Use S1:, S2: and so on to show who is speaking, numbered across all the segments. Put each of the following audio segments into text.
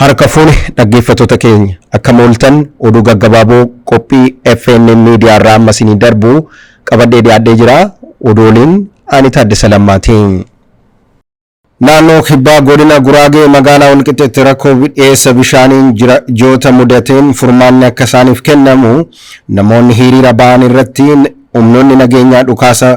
S1: Harka fuune dhaggeeffattoota keenya akkam ooltan oduu gaggabaaboo qophii FNN media irraa amma isinii darbu qabadhee dhiyaadhee jira oduu waliin ani Taaddasa Lammaati. Naannoo Kibbaa Godina Guraagee magaalaa Walqixxeetti rakkoo dhiyeessa bishaaniin jiraattota mudateen furmaanni akka isaaniif kennamu namoonni hiriira ba'an irratti humnoonni nageenyaa dhukaasa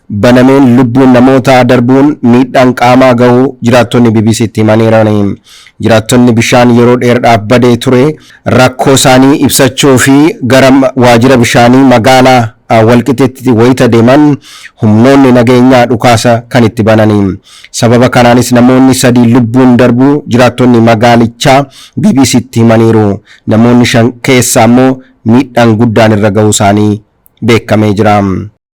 S1: banameen lubbuun namootaa darbuun miidhaan qaamaa gahuu jiraattonni BBC'tti himaniirani. Jiraattonni bishaan yeroo dheerdhaaf badee ture rakkoo isaanii ibsachuu fi gara waajjira bishaanii magaalaa Walqixeetti wayita deeman humnoonni nageenyaa dhukaasa kan itti banani. Sababa kanaanis namoonni sadii lubbuun darbuu jiraattonni magaalichaa BBC'tti himaniiru. Namoonni shan keessaa immoo miidhaan guddaan irra gahuu isaanii beekamee jira.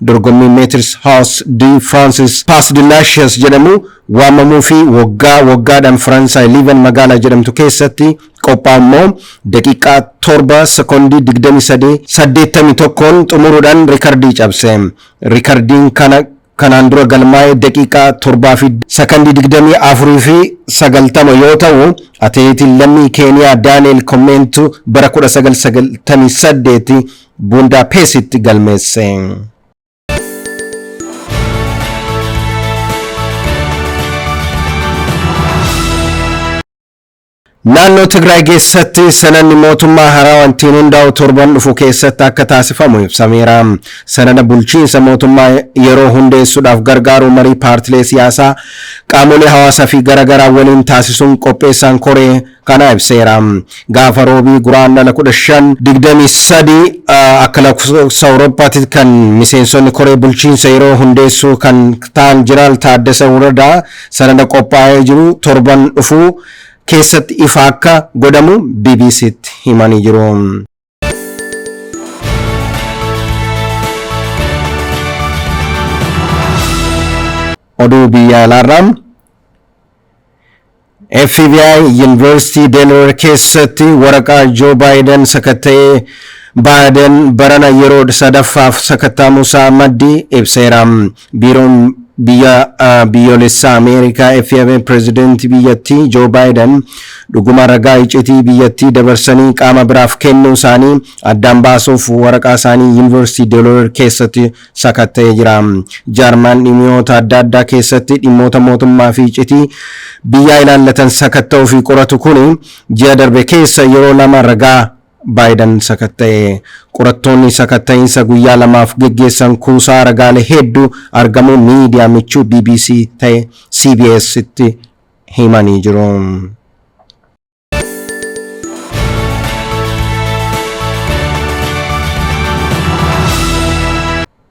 S1: Dorgommii Metres Haus de Frances Pas de la Chaise jedhamu waamamuu fi woggaa woggaadhaan Faransaay Liivan magaalaa jedhamtu keessatti qophaa'u immoo daqiiqaa 7 sekondii 23 81n xumuruudhaan rikardii cabse. Rikardiin kana kanaan dura galmaa'e daqiiqaa 7 fi sekondii 24 fi 90 yoo ta'u atileetiin lammii Keeniyaa Daani'el Komeentu bara 1998 Buundaapeesitti galmeesse. Naannoo Tigraay keessatti sanadni mootummaa haaraa wantiin hundaa'u torban dhufu keessatti akka taasifamu ibsameera. Sanada bulchiinsa mootummaa yeroo hundeessuudhaaf gargaaru marii paartilee siyaasaa qaamolee hawaasaa fi garaagaraa waliin taasisuun qopheessaan koree kana ibseera. Gaafa Roobii Guraandhala 15, 23 akka lakkoofsa Awurooppaatti kan miseensonni koree bulchiinsa yeroo hundeessuu kan ta'an Jeneraal Taaddasa Waradaa sanada qophaa'ee jiru torban dhufuu keessatti ifa akka godhamu BBC'tti himanii jiru. Oduu biyya alaarraa FBI Yuunivarsiitii Delaware keessatti waraqaa Joo Baayiden sakatta'ee Baayiden barana yeroo sadaffaaf sakatta'amuusaa maddi ibseera. Biiroon Biyya Biyyoolessaa Ameerikaa, FMA, Pirezidantii biyyattii Joo Baayidan dhuguma ragaa iccitii biyyattii dabarsanii qaama biraaf kennuu isaanii addaan baasuuf waraqaa isaanii Yuunivarsiitii Delaware keessatti sakatta'ee jira. Jaarmayaan dhimiyoota adda addaa keessatti dhimmoota mootummaa fi iccitii biyyaa ilaallatan sakatta'uu fi qoratu kuni ji'a darbe keessa yeroo lama ragaa Baayidan sakatta'e. Qorattoonni sakatta'iinsa guyyaa lamaaf geggeessan kuusaa ragaalee hedduu argamuu miidiyaa michuu bbc ta'e CBS'tti himanii jiru.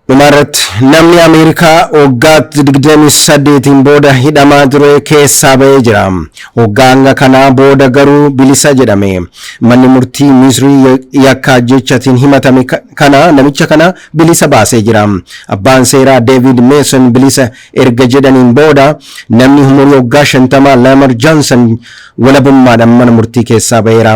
S1: Dhumarratti, namni Ameerikaa waggaa 28n booda hidhamaa ture keessaa ba'ee jira. Waggaa hanga kanaa booda garuu bilisa jedhame. Manni murtii Misrii yakka ajjeechatiin himatame kana namicha kana bilisa baasee jira. Abbaan seeraa Deeviid Meeson bilisa erga jedhaniin booda, namni umurii waggaa 50 Lamar Johnson walabummaadhaan mana murtii keessaa ba'eera.